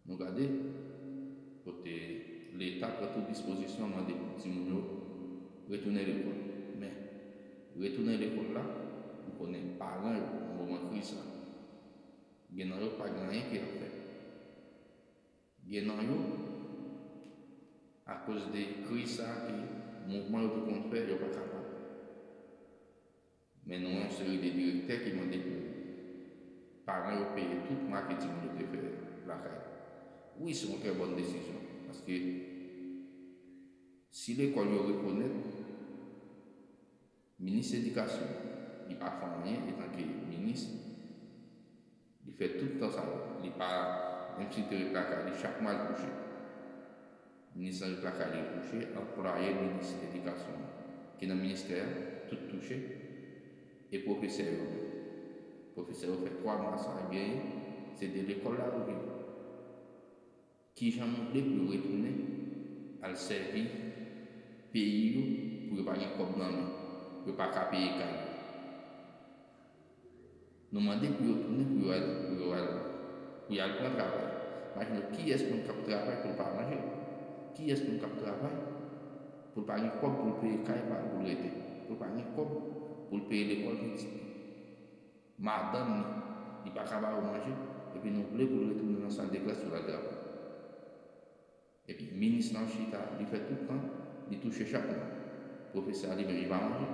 Nou gade kote leta pran tout dispozisyon mande pou timoun yo retounen lekòl. Men, retounen lekòl la, nou konnen paran yo nan moman kriz sa, gen nan yo pa gen anyen ke y ap fè. Gen nan yo, akoz de kriz sa ke mouvman yo te konn fè, yo pa kapab. Men nou yon seri de direktè ki mande pou paran yo peye tout mwa ke timoun yo te fè lakay. Wi se yon trè bòn desizyon paske si lekòl yo rekonèt minis edikasyon li pa fè anyen etanke minis, Li fè tout tan sa yo. Li pa yon ti tere plaka. Li chak mwa al kouche. Minis range plaka li kouche. Anplwaye minis edikasyon an ki nan ministè a tout touche. E pwofesè yo menm? Pwofesè yo fè 3 mwa sa yo genyen se de lekòl la yo vini. Ki jan nou vle pou yo retounen al sèvi peyi yo pou yo pa gen kòb nan men, pou yo pa ka peye kay yo? Nou mande pou yo tounen pou yo al pou yo al pou y al pran travay. Maj nou kiyès moun k ap travay pou l pa manje? Kiyès moun k ap travay pou l pa gen kòb pou l peye kay pa l pou l rete, pou l pa gen kòb pou l peye lekòl pitit li? Madanm ni. Li pa ka ba yo manje, epi nou vle pou l retounen nan sal de klas pou l al travay. Epi minis lan chita, li fè tout tan, li touche chak mwa. Pwofesè a li menm li pa manje.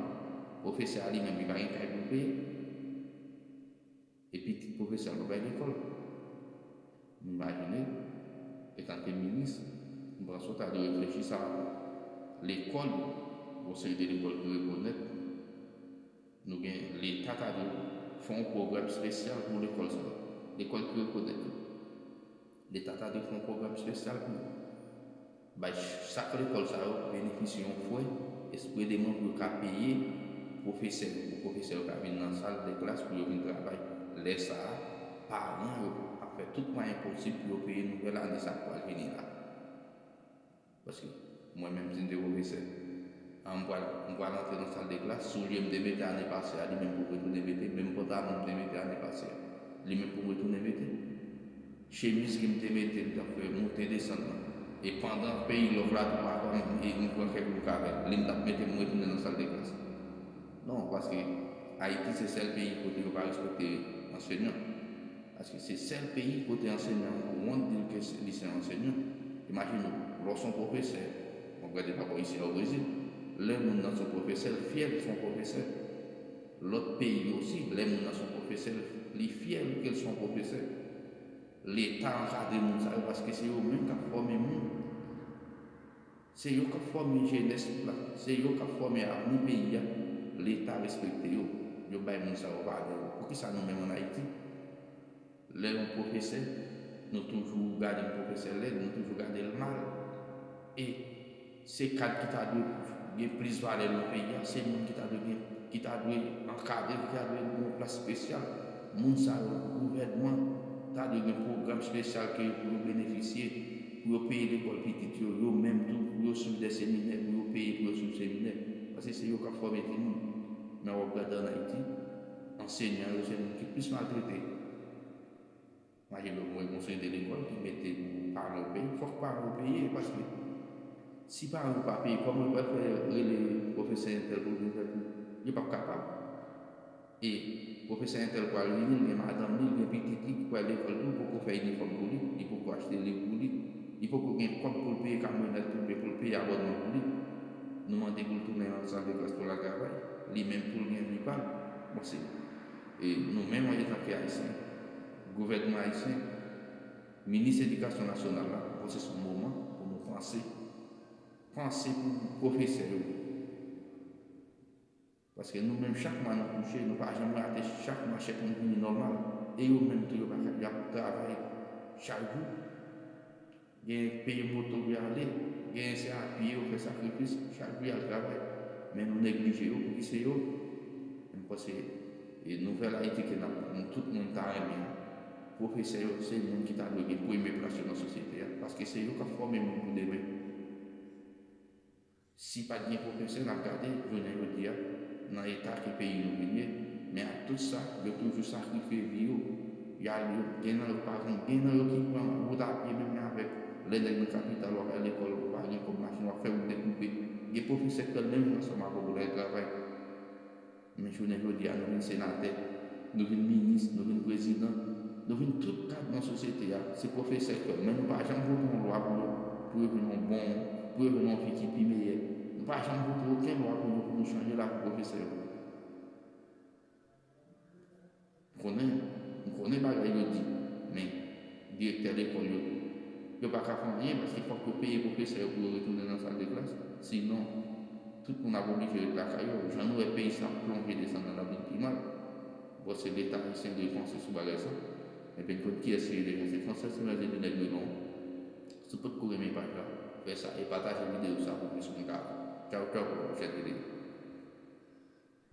Pwofesè a li menm li pa gen kay pou l peye. E pitit pwofesè a l pa bay lekòl. M imajine, etanke minis, m panse w ta dwe reflechi sa. Lekòl, gen yon seri de lekòl ki rekonèt. Nou gen leta ta dwe fè yon pwogram spesyal pou lekòl sa yo. Lekòl ki rekonèt yo. Leta ta dwe fè yon pwogram spesyal pou bay chak lekòl sa yo benefisye yon frè espredeman pou yo ka peye pwofesè yo, pou pwofesè yo ka vin nan sal de klas pou yo vin travay. Lè sa a, paran yo ap fè tout mwayen posib pou yo peye nouvèl ane sa k pral vini la. Paske mwen menm si m te pwofesè a m pral m pral antre nan sal de klas soulye m te mete ane pase a li menm pou m retounen mete menm pantalon m te mete ane pase a li menm pou m retounen mete chemiz ke m te mete m t ap fè moute desann nan e pandan peyi lòv la tou pa fè m e m pran kèk bouk avè l li m t ap mete m retounen nan sal de klas la. Non, paske Ayiti se sèl peyi kote yo pa respekte ansenyan. Paske se sèl peyi kote ansenyan an wont di l ke li se yon ansenyan. Imajine w, lè w se yon pwofesè, mwen pral di dabò isi a o Brezil, lè moun nan se yon pwofesè, l fyè li se yon pwofesè. Lòt peyi yo osi, lè moun nan se yon pwofesè, li fyè li ke l se yon pwofesè. Leta ankadre moun sa yo paske se yo menm k ap fòme moun. Se yo kap fòme jenès la, se yo kap fòme avni peyi a, leta respekte yo, yo bay moun sa yo valè yo. Poukisa nou menm an Ayiti, lè yon pwofesè, nou toujou gade yon pwofesè lèd, nou toujou gade l mal? E se kad ki ta dwe gen plis valè nan peyi a, se moun ki ta dwe gen, ki ta dwe ankadre, ki ta dwe gen yon plas spesyal. Moun sa yo gouvènman ta dwe gen pwogram spesyal ke yo pou yo benefisye pou yo peye lekòl pitit yo yo menm tou pou yo swiv de seminè pou yo peye pou yo swiv seminè paske se yo kap fòme ti moun nan wòp gadan an ayiti ansenyan yo se moun ki plis maltrete. Mache lòt mwen gon seri de lekòl ki mete pou paran yo peye, fòk paran yo peye paske si paran yo pa peye kòman yo pral fè rele pwofesè entèl pou l vin fè kou, yo pap kapab e pwofesè entèl pral vini l gen madanm li, l gen pitit li ki pral lekòl tou, li poko fè inifòm pou li, li poko achte liv pou li, li poko gen kòb pou l peye kamyonèt oubyen pou l peye abònman pou li, nou mande pou l tounen nan sal de klas pou l al travay, li menm tou l gen vi pa l, bon se. E nou menm an etan ke Ayisyen, gouvènman Ayisyen, Minis Edikasyon Nasyonal la, mwen panse se yon moman pou nou panse, panse pou pwofesè yo. Paske nou menm chak mwa nou touche, nou pa janm rate, chak mwa chèk nou vini nòmal. E yo menm tou yo pa ka, y ap travay chak jou. Genyen k peye moto pou y ale, genyen se a pye yo fè sakrifis chak jou y al travay. Men nou neglije yo pouki se yo. M panse e nouvèl Ayiti ke nap nou tout moun ta renmen an. Pwofesè yo se moun ki ta dwe gen premye plas yo nan sosyete a paske se yo kap fòme moun pou demen. Si pat gen profesè nap gade jounen jodi a nan eta ke peyi nou vin ye men ak tout sa yo toujou sakrifye vi yo yo al yo gen nan yo pa gen gen nan yo ki pran wout a pye menm jan avèk lè nèg nan kapital wap al lekòl ou pa gen kòb machin wap fè wout dekoupe gen profesè krèl menm jan ansanm avèw pou yo al travay. Men jounen jodi a nou vin senatè, nou vin minis, nou vin prezidan, nou vin tout kad nan sosyete a, se pwofesè kèw men nou pa janm vote yon lwa pou yo pou yo jwenn yon bon, pou yo jwenn yon vi ki pi meyè. Nou pa janm vote oken lwa pou nou pou nou chanje lavi pwofesè yo. M konnen, m konnen bagay yo di, men, direktè lekòl yo tou. Yo pa ka fè anyen paske fòk yo peye pwofesè yo pou yo retounen nan sal de klas, sinon, tout moun ap oblije ret lakay yo. Jan nou wè peyi sa ap plonje desann nan labim pi mal. M panse Leta ayisyen dwe panse sou bagay sa. Men Penn konn kiyès li ye deja. Se Fransè Senwèl te di nèg yo non. Si w pot ko renmen paj la, fè sa e pataje videyo sa pou plis moun ka wè l. Tchaw tchaw pou pwochèn videyo.